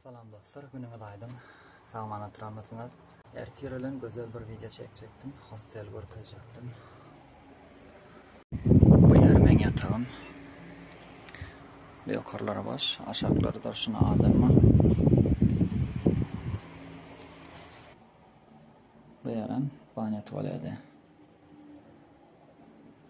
Salam dostlar günüňiz aýdyň sagman otyramysyňyz ertir bilen gözel bir wideo çekjekdim hostel görkezjekdim bu ýer meň ýatagym ýokarlary boş aşaklary durşuna adam bar bu ýerem banýa tualedi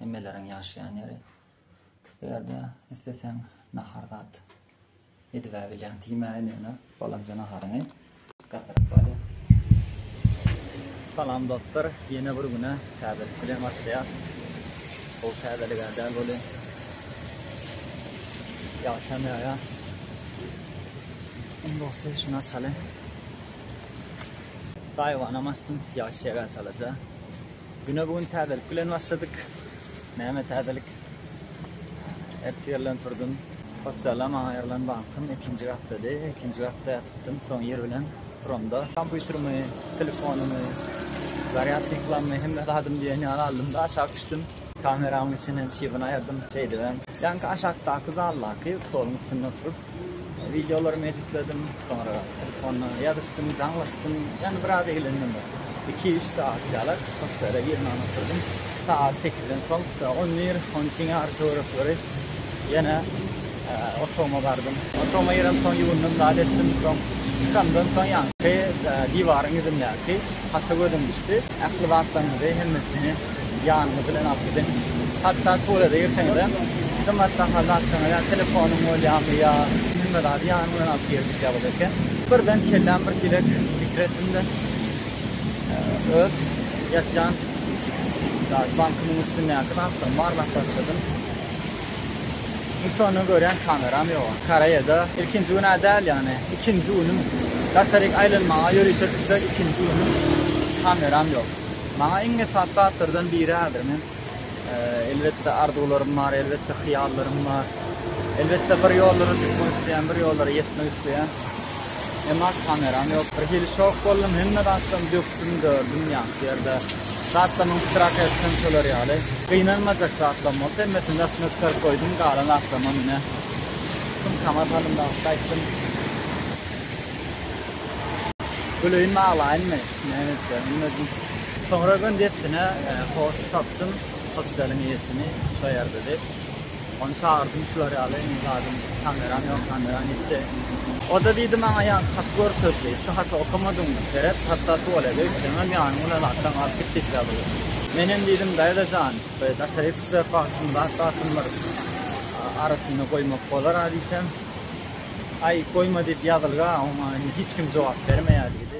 hemmeleriň ýaşaýan ýeri. Bu ýerde isleseň nahar zat edibä bilýäň, diýmä indi ýöne balanja naharyňy. Gatyrak bale. Salam dostlar, ýene bir güne täzelik bilen başlaýas. Gowy täzeligä däl welin ýagşam ýaýar. Iň gowusy şuny açaly. Gaýybanam açdym, ýagyş ýagar çalaja. Güne bu gün täzelik bilen başladyk. Näme täzelik? Ertir ýerden turdum. Hostella maňa aýrylan wagtym ikinji gatdady. Ikinji gatda ýatypdym. Soň ýer bilen turamda. Kompýuterimi, telefonymy, zarýadka ýyklanymy hemme zadymy diýen ýaly aldym-da aşak düşdüm. Kameramyň içinden çybyn aýyrdym. Şeýdibem, ýaňky aşakdaky zaldaky stoluň üstünde oturyp, Wideolarymy editledim, soňra telefona ýazyşdym, jaňlaşdym. Ýöne biraz eglendim bir iki-üç sagat ýaly. Hotele girmän oturdym. Sagat sekizden soň on bir, on iki ýarym töwerekleri ýene otagyma bardym. Otagyma girenden soň ýuwundym, zat etdim. Soň çykandan soň ýaňky diwaryň ýüzündäki hata gözüm düşdi. Ähli zatlaryňyzy, hemmesini ýanyňyz bilen alyp gidiň. Hatda tualete girseňizem, gymmat bahaly zatlaryňyzy, ýa telefonyň bolýarmy, ýa hemme zady ýanyň bilen alyp gir diýip ýazylyp eken. Birden kelläm bir kizek pikir etdim-de, öz ýatýan daş bankymyň üstündäki zatlarymy barlap başladym. Ilki onda görýän kameram ýok. Koreýada ilkinji gün-ä däl ýagny ikinji günüm. Daşaryk aýlanmaga ýörite çykjak ikinji günüm. Kameram ýok. Maňa iň esasy zatlardan biri häzir men elbetde arzuwlarym bar, elbetde hyýallarym bar. Elbetde bir ýollara çykmak isleýän, bir ýollara ýetmek isleýän. Emma kameram ýok. Birhili şok boldum, hemme zatlarymy dökdüm, dördüm ýaňky ýerde. Zatlarymy yştrak etsem şolar ýaly. Gynanmajak zatlam bolsa hemmesini daşyna çykaryp goýdum, galan zatlamam ine sumkama salymda alyp gaýtdym. Güleýinmi, aglaýynmy, näme etjegimi bilmedim. Soňra öýden dessine hoşy tapdym, hosteliň eýesini, şo ýerdedi. Ony çagyrdym şular ýaly indi zadym kameram ýok kameram ýitdi. Oda diýdi maňa ýaňky haty görkezdi. Şu haty okamadyňmy? Seret hatda tuwalede üýtgemem ýanyň bilen atlaň alyp git diýip ýazylyp. Menem diýdim daýza jan we daşaryk çykjak wagtym zat basym bir arasyna goýmak bolar a diýsem aý goýma diýip ýazylga oňa indi hiç kim jogap bermeýär diýdi.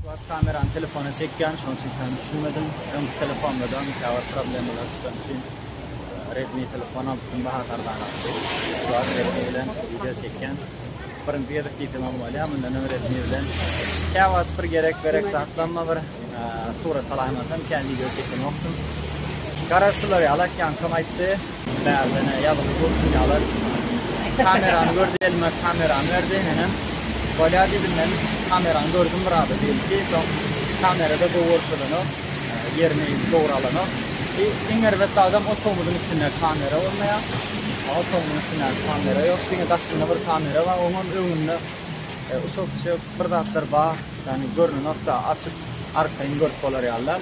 Wagt kamerany telefona çekýän, şonuň üçin täze düşünmedim. Öňki telefonda-da mütewat problemalar çykan üçin Redmi telefon alypdym, bahasy arzanakdy. Şu wagt Redmi bilen wideo çekýän. Birinji gezek diýsem hem bolýar, mundan öň Redmi bilen kä wagt bir gerek-berek zatlamma bir surat alaýmasam, kä wideo çekenokdym. Garaşsyzlar ýaly, Akýankom aýtdy. Bärde ene ýazyldy bu dünýalar. Kamerany gördi elime kamerany berdi enem. Bolýa diýdim men kamerany gördüm biraz diýdi. Soň kamerada gowy görkezenok. Ýerini dogry alanok. I iň erbet zadam otagymyzyň içinde kamera bolmaýar. Otagymyzyň içinde kamera ýok. Diňe daşynda bir kamera bar. Oňam öňünde uşak-puşak bir zatlar bar. Ýagny görnenok-da açyk arkaýyn görüp bolar ýaly däl.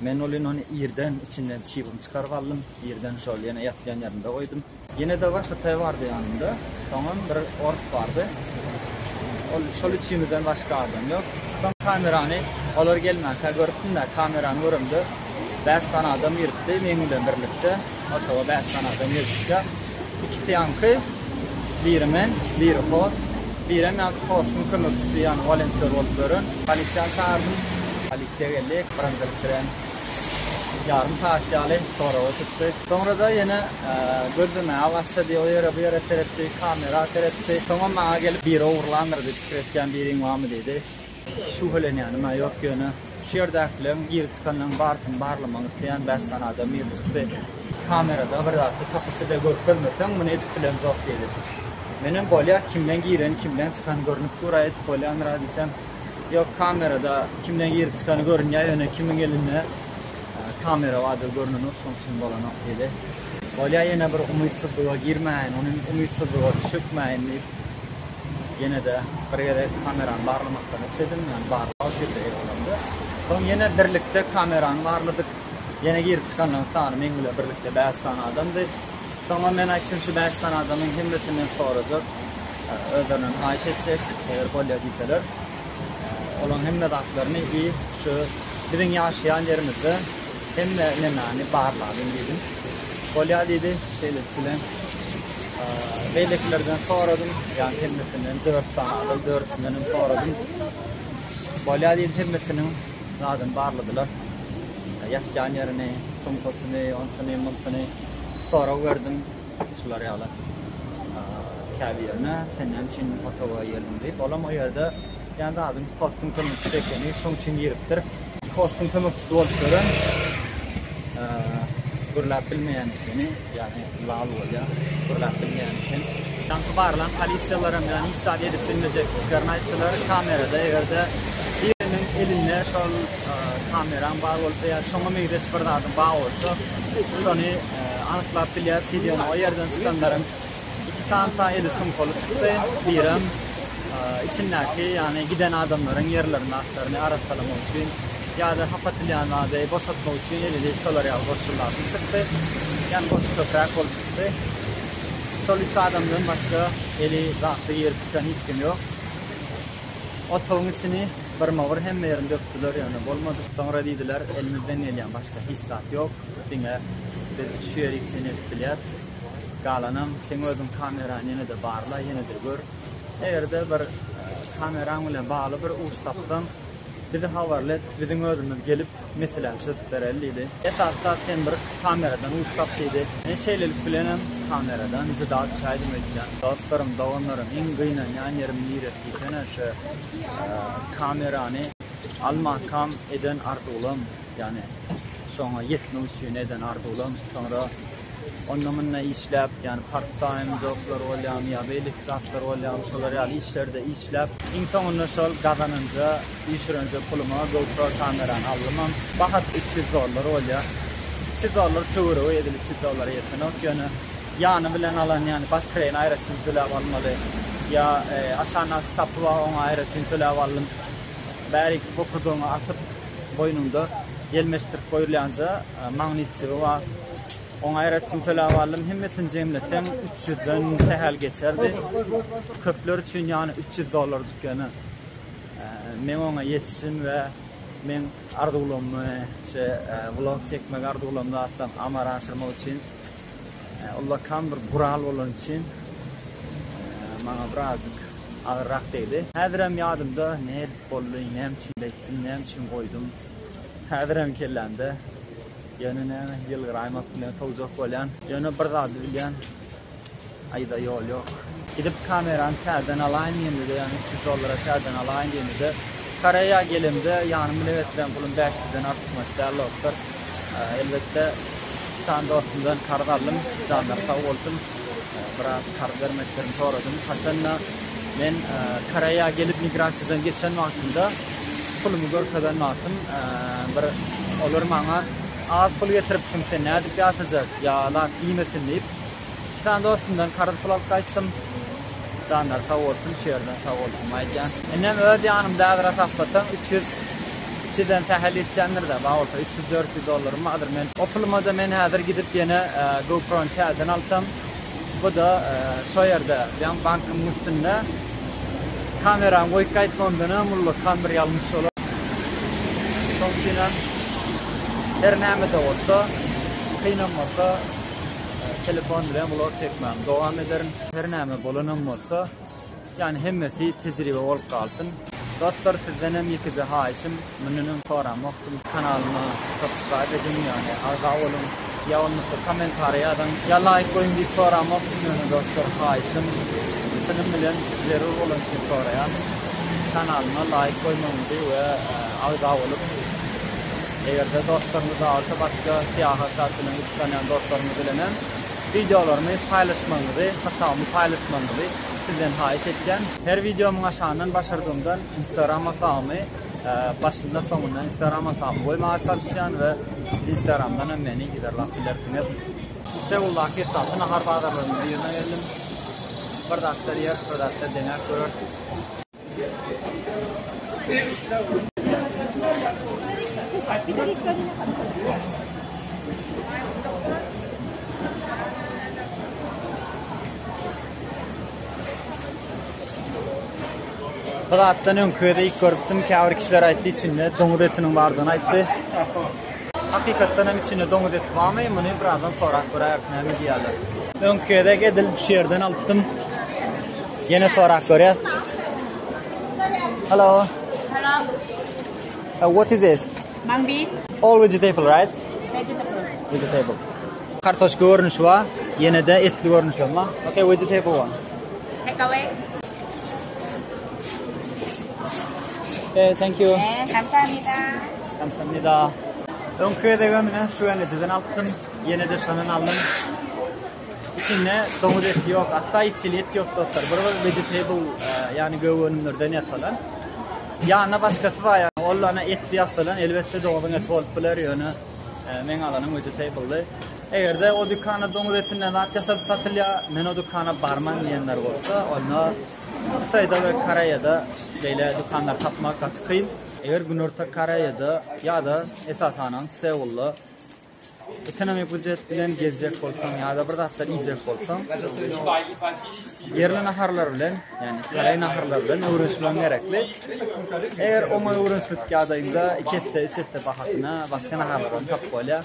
Men ol ýunany irden içinden çybygny çykaryp aldym, irden şol ýene ýatýan ýerinde goýdum. Ýene-de bir hytaý bardy ýanymda, soňam bir ors bardy. Ol şol üçimizden başga adam ýok. Soň kamerany olar gelmänkä görüpdim-de, kamerany göremde bäş sany adam giripdi, meň bilen birlikde otaga bäş sany adam girip çykýar. Ikisi ýaňky, biri men, biri host, birem ýaňky hostuň kömekçisi ýagny wolontýor bolup ýören. Polisiýany çagyrdym. Tegelek birinjilik bilen ýarym sagat ýaly soraga tutdy. Soňra-da ýene gözlemäge başlady. O ýere-bu ýere seretdi, kamera seretdi. Soňam maňa gelip, Biri ogurlandyr diýip pikir etýän biriň barmy? diýdi. Şübhelenýänim-ä ýok, ýöne şu ýerdäkileriň girip-çykanlaryň barysyny barlamagy isleýän bäş sany adam girip çykdy. Kamerada bir zat-da tapypdy-da, görkezmeseň muny edip bilemzok diýdi. Menem bolýa, kimden gireni, kimden çykany görnüp dur-a, edip bolýandyr-a diýsem. Ýok kamerada kimden girip çykany görünýär ýöne kimiň elinde kamera bardygy görnenok şoň üçin bolanok diýdi. Bolýar ýene bir umytsyzlyga girmäýin ony umytsyzlyga çökmäýin diýip ýene-de bir gezek kamerany barlamakdan ötdedim ýagny barlag şeýle ýalandy. Soň ýene birlikde kamerany barladyk ýene girip çykanlaryň sany meň bilen birlikde bäş sany adamdy. Soňam men aýtdym, şu bäş sany adamyň hemmesinden sorajak, özlerine haýyş etjek, eger bolýa diýseler, olaryň hemme zatlaryny i şu biziň ýaşaýan ýerimizde hemme nemäni barlalyň diýdim. Bolýa diýdi, şeýlelik bilen beýlekilerden soradym, ýagny hemmesinden dört sany adam, dördüsindenem soradym. Bolýa diýdi, hemmesiniň zadyny barladylar. Ýatýan ýerini, sumkasyny, onsyny, munsyny. sorag berdim, şular ýaly, käbirine, sen näme üçin o toga girdiň diýip, olam o ýerde ýa zadyň hostuň kömekçisi ekeni, şoň üçin giripdir. Hostuň kömekçisi bolup gören, gürläp bilmeýän ekeni, ýagny lal bolýar, gürläp bilmeýän eken. Ýaňky barlan polisiýalaram ýagny hiç zat edip bilmejekdiklerini aýtdylar, kamerada eger-de biriniň elinde şol kameraň bar bolsa ýa şoňa meňzeş bir zadyň bar bolsa şony anyklap bilýäs wideonyň o ýerden çykanlarym iki santa eli sumkaly çykdy birem içindäki ýagny giden adamlaryň ýerlerini atlaryny arassalamak üçin ýa-da hap atylýan zady boşatmak üçin elili şolar ýaly goşulýardy çykdy ýagny goşy köpräk bolup çykdy şol üç adamdan başga eli zatly girip çykan hiç kim ýok. Otagyň içini gyrma-gyr hemme ýerini dökdüler, ýöne bolmady. Soňra diýdiler, Elimizden gelýän başga hiç zat ýok. Diňe biz şu ýeri içini edip bilýäris. Galanam seň özüň kamerany ýene-de barla, ýene-de gör. Eger-de bir kameraň bilen bagly bir uç tapsaň, bizi habarly et, biziň özümiz gelip, Meselem çözüp bereli diýdi. Esasy zat sen bir kameradan güýç tap diýdi. Men şeýlelik bilenem kameradan juda düşäýdim öýtýän. Dostlarym, doganlarym iň gynanýan ýerim niresi diýsene şu kamerany almakam eden arzuwlam, ýagny şoňa ýetmek üçin eden arzuwlam, soňra onda-munda işläp, ýagny part-taým joblar bolýamy ýa beýleki zatlar bolýamy, şolar ýaly işlerde işläp, iň soňunda şol gazananja, işirenje puluma GoPro kamerany aldymam. Bahasy üç ýüz dollar bolýar. Üç ýüz dollar töweregi edil üç ýüz dollara ýetenok, ýöne ýany bilen alan, ýagny batreýini aýratyn töläp almaly, ýa aşagyndaky sapy bar, oňa aýratyn töläp aldym. Bäriki bokurdagyňa asyp, boýnuňda ýelmeşdirip goýulýanja magnitçigi bar. Oň aýratyn tölägallym hemmesini jemleseň üç ýüzden sähel geçerdi. Köpler üçin ýany üç ýüz dollarjyk ýöne men oňa ýetişdim we men arzuwlamy şe vlog çekmek arzuwlamy zatdan amara aşyrmak üçin ullakan bir gural bolany üçin maňa birazjyk agyrrak degdi. Häzirem ýadymda nädip boldy, näme üçin beýtdim, näme üçin goýdum. Häzirem kellämde ýöne näme ýylgyraýmak bilen sowjak bolýan. Ýöne bir zady bilýän. Aýda ýol ýok. Gidip kamerany täzeden alaýyn diýemde-de ýa üç ýüz dollara täzeden alaýyn diýemde-de Koreýa gelemde ýanymy lebetleýän pulum bäş ýüzden artykmaç däl dostlar. Elbetde iki sany dostumdan karz aldym. Janlary sag bolsun. biraz karz bermeklerini soradym. Haçanda men e, Koreýa gelip migrasiýadan geçen wagtymda pulumy görkezen wagtym e, bir olar maňa az pul getiripsiň sen nädip ýaşajak ýa zat diýmesin diýip iki sany dostumdan karz pul alyp gaýtdym. Janlar sag bolsun, şu ýerden sag bolsun aýdýan. Indem öz ýanymda äzra taplasaň 300 Üçeden sähel ýetýändir-dä, bar bolsa üç ýüz, dört ýüz dollarym bardyr. Men o puluma-da men häzir gidip ýene GoPro-ny täzeden alsam, bu-da şo ýerde, ýaňy bankymyň üstünde kamerany goýup gaýtmagymdan-a mullakan bir ýalňyş bolar. Şonuň üçinem her näme-de bolsa, kynam bolsa telefon bilen vlog çekmämi dowam ederin. Her näme bolanam bolsa. Ýani hemmesi tejribe bolup galsyn. Dostlar sizdenem ýekeje haýyşym mundanam soramokdym kanalyma subscribe ediň ýani agza boluň ýa bolmasa kommentariýa ýazyň ýa laýk goýuň diýip soramokdym ýöne dostlar haýyşym çynym bilen zerur bolan üçin soraýan kanalyma laýk goýmagyňyzy we agza bolup egerde dostlaryňyz bar bolsa başga syýahat zat bilen gyzyklanýan dostlaryňyz bilenem Wideolarymy paýlaşmagyňyzy, hasabymy paýlaşmagyňyzy sizden haýyş etýän. Her wideomyň aşagyndan başardygymdan Instagram hasabymy başynda soňunda Instagram hasabymy goýmaga çalyşýan we siz Instagramdan hem meni yzarlap bilersiňiz. Istanbuldaky esasy nahar bazarlarynyň birine geldim. Bir zatlar ýeris, bir zatlar deňäp göreris. Birazdan öňki öýde ilk görüpdim, käbir kişiler aýtdy içinde doňuz etiniň bardygyny aýtdy. Hakykatdan hem içinde doňuz eti barmy muny birazdan sorap göräýeris näme diýýärler. Öňki gezek edil şu ýerden alypdym. Ýene sorap görýäs. Hello. Hello. Uh, what is this? Mung bean. All vegetable, right? Vegetable. Vegetable. Kartoşka görnüşi bar, ýene de etli görnüşi hem bar. Okay, vegetable one. Take away. Okay, thank you. Hey, kamsahamnida. Kamsahamnida. Öňki gezegem ine şu enejeden alypdym. Ýene-de şondan aldym. Içinde doňuz eti ýok. Hatda itjil et ýok dostlar. Bir bir vegetable, ýagny gök önümlerden ýasalan. Ýanyna başgasy bar ýa ol ana etli ýasalan. Elbetde doňuzyň eti bolup biler, ýöne meň alanym vegetable-dy. Eger-de o dükanda doňuz etinden zat ýasalyp satylýar, men o dükana barman diýenler bolsa, onda Hytaýda we Koreýada beýle dükanlary tapmak gaty kyn. Eger Günorta Koreýada ýa-da esasanam Seulda ekonomik bujet bilen gezjek bolsaň ýa-da bir zatlar iýjek bolsaň, ýerli naharlar bilen, ýagny koreý naharlary bilen öwrenişmegiň gerekli. Eger oňa öwrenişmedik ýagdaýyňda iki esse, üç esse bahasyna başga naharlar hem tapyp bolýar.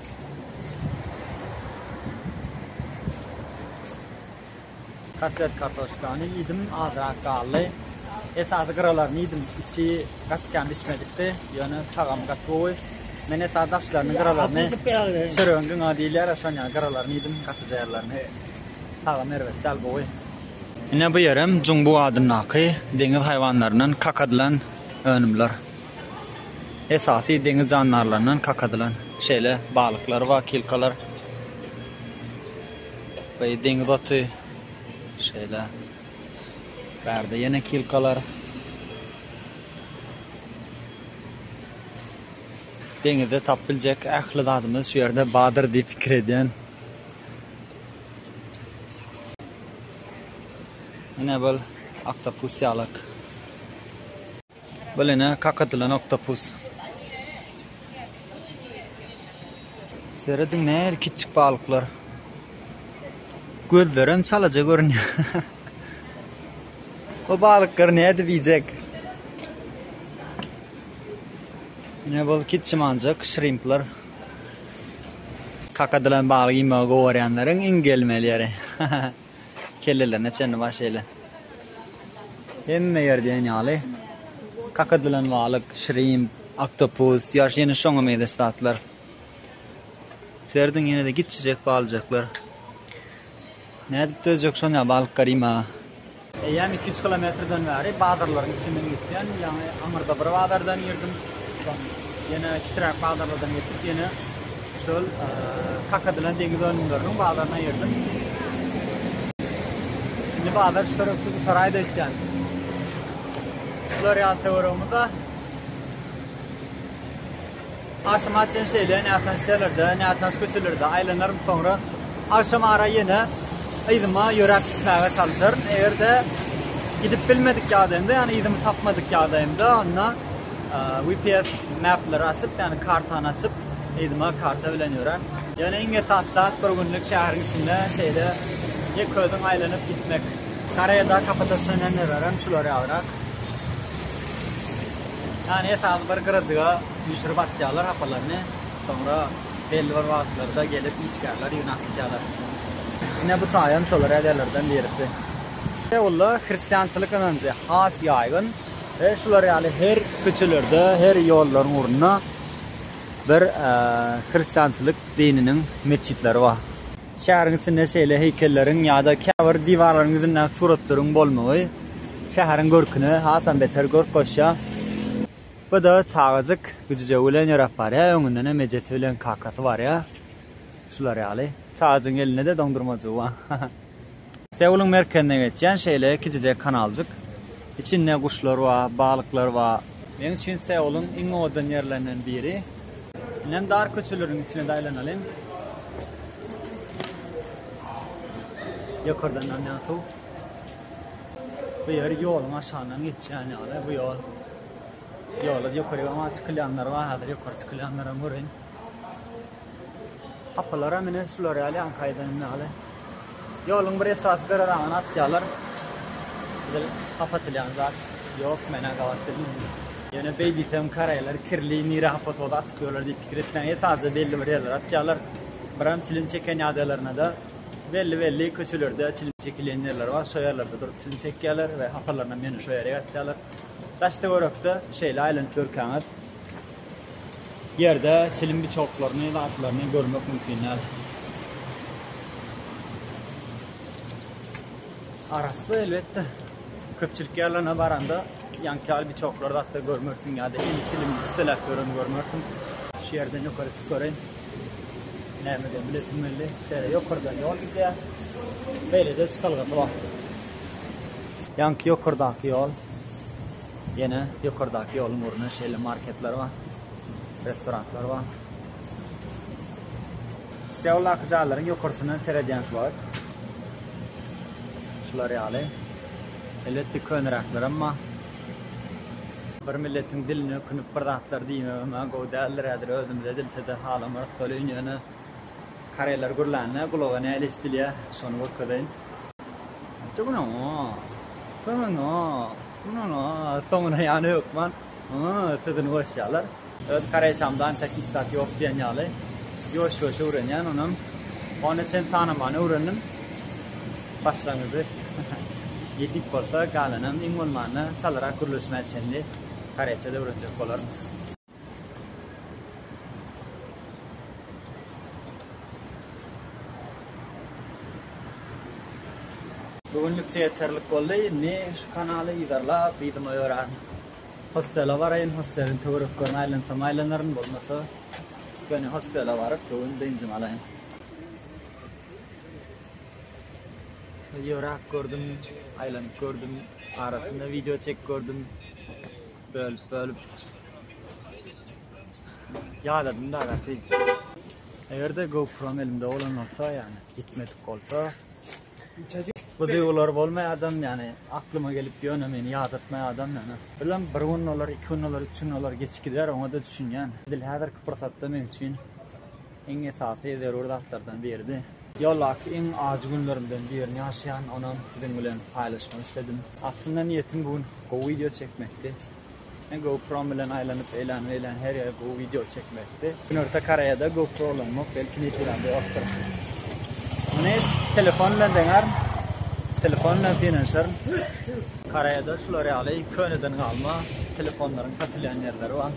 Kotlet kartoşkany iýdim, azrak galdy. Esasy gyralaryny iýdim, içi gaty kän bişmedikdi, ýöne tagamy gaty gowy. Men esasy daşlaryny, gyralaryny, çöregiň gyňagy diýilýär-ä, şony ýaly gyralaryny iýdim, gaty jaýarlaryny. Tagamy erbet däl, gowy. Ine bu ýerem Jumbu adyndaky deňiz haýwanlaryndan kaka diýlen önümler. Esasy deňiz jandarlaryndan kak edilen şeýle balyklar bar, kilkalar. Beý deňiz oty. Şeýle. Bärde ýene kilkalar. Deňizde tap biljek ähli zadymyz şu ýerde bardyr diýip pikir edýän. Ine bol aktopus ýalak. Bul ene kakadylan oktopus. Serediň nähili kiçjik balyklar. Gözlerem çalaja görünýär. Bu balyklary nädip iýjek? Ne bol kiçimanjak şrimpler. Kakadylan balyk iýmegi gowarýanlaryň iň gelmeli ýeri. Kellelerine çenli bar şeýle. Hemme ýer diýen ýaly. Kaka dilen balyk, şrimp, oktopus, ýaş ýene şoňa meýleş zatlar. Serediň ýene-de giçjijek balyjaklar. Nädip dözjek şony ýa balyk garyma. Eýýäm iki-üç kilometrden bäri bazarlaryň içinden geçýän, ýaňy aňyrda bir bazardan girdim, soň ýene kitiräk bazarlardan geçip ýene Şol kakadylan deňiz önümleriniň bazaryna girdim. Şimdi bazar çörükli gutaray da ötýän. Şular ýaly töweregimizde Akşam açan şeyle nätan selerde, nätan köçelerde aylanarım sonra akşam ara yine yzyma yöräp gitmäge çalışarım. Eger de gidip bilmedik ýagdaýymda, ýagny yzymy tapmadyk ýagdaýymda onda VPS mapleri açyp, ýagny kartany açyp Yzyma karta bilen ýörän. Ýöne iň esasy zat bir günlük şäheriň içinde şeýle ýeközüň aýlanyp gitmek. Koreýada kapatasýonerleräm şular ýalyrak. Ýani esasy bir gyrajyga üýşürip atýarlar hapalaryny, soňra belli bir wagtlarda gelip işgärler ýygnap gitýärler. Ine bu taýam şolar ýaly ýerlerden birisi. Seulda hristiançylyk ynanjy has ýaýgyn. He şular ýaly her köçelerde, her ýollaryň ugrunda bir hristiançylyk dininiň metjitleri bar. Şäheriň içinde şeýle heýkelleriň ýa-da käbir diwarlaryň ýüzündäki suratlaryň bolmagy şäheriň görküne hasam beter görk goşýar. Bu-da çagajyk güjüjegi bilen ýöräp barýar, öňündenem ejesi bilen kakasy barýar. Şular ýaly. Çagajygyň elinde-de doňdurmajygy bar. Seulyň merkezine geçýän şeýle kiçijek kanaljyk. Içinde guşlar bar, balyklar bar. Meň üçin Seulyň iň owadan ýerlerinden biri. Indem dar köçeleriň içine-de aýlanalyň. Ýokardan damýan suw. Bu ýer ýoluň aşagyndan geçýän ýaly, bu ýol. Ýola ýokaryk aňa çykylýanlar bar, häzir ýokary çykylýanlaram görün. Gapylaram ine şular ýaly ýaňky aýdanym ýaly. Ýoluň bir esasy gyraragyna atýarlar. Edil gapatylýan zat ýok, menä gabat bildim. Ýöne beý diýsem karaýlar kirli nirä hapa toza atyp ýörler diýip pikir etmäň esasy belli bir ýerlere atýarlar. Biram çilim çeken ýagdaýlarynada belli belli köçelerde çilim çekilýän ýerler bar şo ýerlerde durup çilim çekýärler we hapalarynam ýöne şo ýere gatýarlar. Daştöwerekde şeýle aýlanyp görkäňiz ýerde çilim biçoklaryny, zatlaryny görmek mümkin däl. Arassa elbetde köpçülik ýerlerine baranda ýaňky ýaly biçoklary zatda görmersiň ýa-da indi çilim üsteläp ýöreni görmersiň. Şu ýerden ýokary çykyp göreýin. Näme diýen bilesim geldi. Şeýle ýokardan ýol gidýär. Beýlede çykalga bar. Ýaňky ýokardaky ýol. Ýene ýokardaky ýoluň ugrunda şeýle marketler bar, restoranlar bar. Seuldaky jaýlaryň ýokarsyndan seredýän şu wagt. Şular ýaly. Elbetde köneräklerem bar. Bir milletiň dilini ökünip bir zatlar diýmegem-ä gowy däldir häzir özümize dilside halamarys solýyn ýöne koreýler gürlände gulaga nähili eşdilýä şony görkezeýin. Çykyň-a! Köňeň-a! Soňuna ýany hökman sözüni goşýarlar. Öz kareýçamdan tek üstad ýok diýen ýaly, ýuwaş-ýuwaş öwrenýän, onam ony çen tanamany öwrendim. Başlangyjy ýetik bolsa, galanam iň bolmanda çalarak gürleşmä çenli kareýçada öwrenjek bolaryn. Bu günlükçe ýeterlik boldy. Indi şu kanaly yzarlap yzyma ýörärin. Hostele baraýyn, hosteliň töwereklerini aýlansam aýlanaryn, bolmasa ýöne hostele baryp bu gün dynjymy alaýyn. Ýöräp gördüm, aýlanyp gördüm, arasynda wideo çekip gördüm. Bölüp bölüp Ýadadym da gaty. Eger-de GoPro elimde bolan bolsa, ýagny gitmedik bolsa, bu duýgular bolmaýardam, ýagny aklyma gelip ýöne meni ýadatmaýardam ýagny. Bilemok, bir gün olar, iki gün olar, üç gün olar geçip gider, oňa-da düşünýän. Edil häzirki pursatda men üçin iň esasy zerur zatlardan biridi. Ýoldaky iň ajy günlerimden birini ýaşaýan, onam siziň bilen paýlaşmak isledim. Aslynda niýetim bu gün gowy wideo çekmekdi. Men GoPro-m bilen aýlanyp eýlän beýlän her ýere gowy wideo çekmekdi. Günorta Koreýada GoPro ulanmak belki netijäli ýokdur. Muny telefon bilen deňärin. Telefon bilen synanyşaryn. Koreýada şular ýaly köneden galma telefonlaryň satylýan ýerleri bar.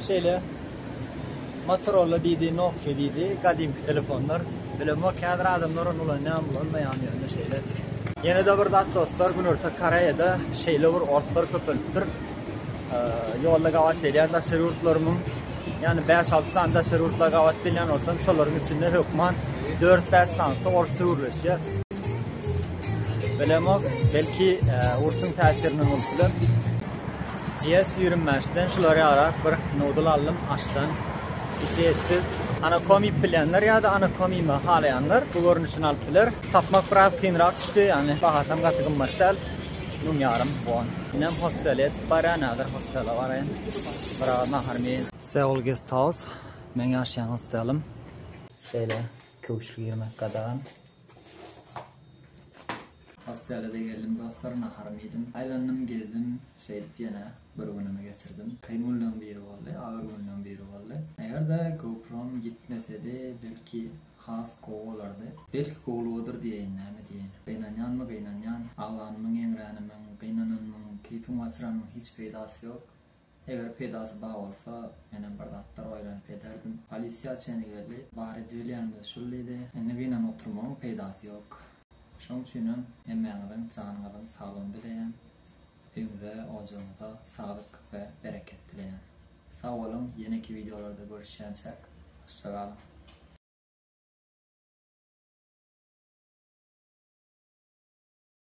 Şeýle Motorolla diýdi, Nokia diýdi, gadymky telefonlar. Bilemok, häzir adamlar ony ulanýarmy, ulanmaýarmy ýöne şeýle. Ýene-de bir zat dostlar, Günorta Koreýada şeýle bir otlar köpelipdir. Ýolda gabat gelýän daşary ýurtlarymyň, ýani bäş-alty sany daşary ýurtlara gabat gelýän bolsam, şolaryň içinde hökman dört-bäş sanysy orsça gürleşýär. Bilemok, belki urşuň täsirinden bolup biler. GS ýigrimi bäş den şular ýarak bir nudl aldym aşdan içi etsiz. Anakomik bilýänler ýa-da anakomima halaýanlar bu görnüşini alyp biler. Tapmak biraz kynrak düşdi, ýagny bahasam gaty gymmat däl, müň ýarym won. Inem hostele ýetip barýan, häzir hostele baraýyn, biraz naharymy iýen. Seoul Guest House, meň ýaşaýan hostelim. Şeýle köwşli girmek gadagan. Hostelede geldim dostlar naharymy iýdim. Aýlandym gezdim şeýdip ýene bir günümi geçirdim. Kyn günleň biri boldy agyr günleň biri boldy. Eger-de GoProm gitmesedi belki has gowy bolardy. Belki gowlugydyr diýeýin näme diýeýin. Gynanýanmy gynanýan. Aglanymyň eňränimiň gynananymyň keýpimi gaçyranymyň hiç peýdasy ýok. Eger peýdasy bar bolsa, menem bir zatlar oýlanyp ederdim. Polisiýa çenli geldi. Bar edibilýänimiz şul diýdi. Indi gynanyp oturmagyň peýdasy ýok. Şoň üçinem hemmäňiziň janyňyzyň saglygyny dileýän. Öýüňize, ojagyňyza saglyk we bereket dileýän. Sag boluň, ýeneki wideolarda görüşýänçäk, hoşça galyň!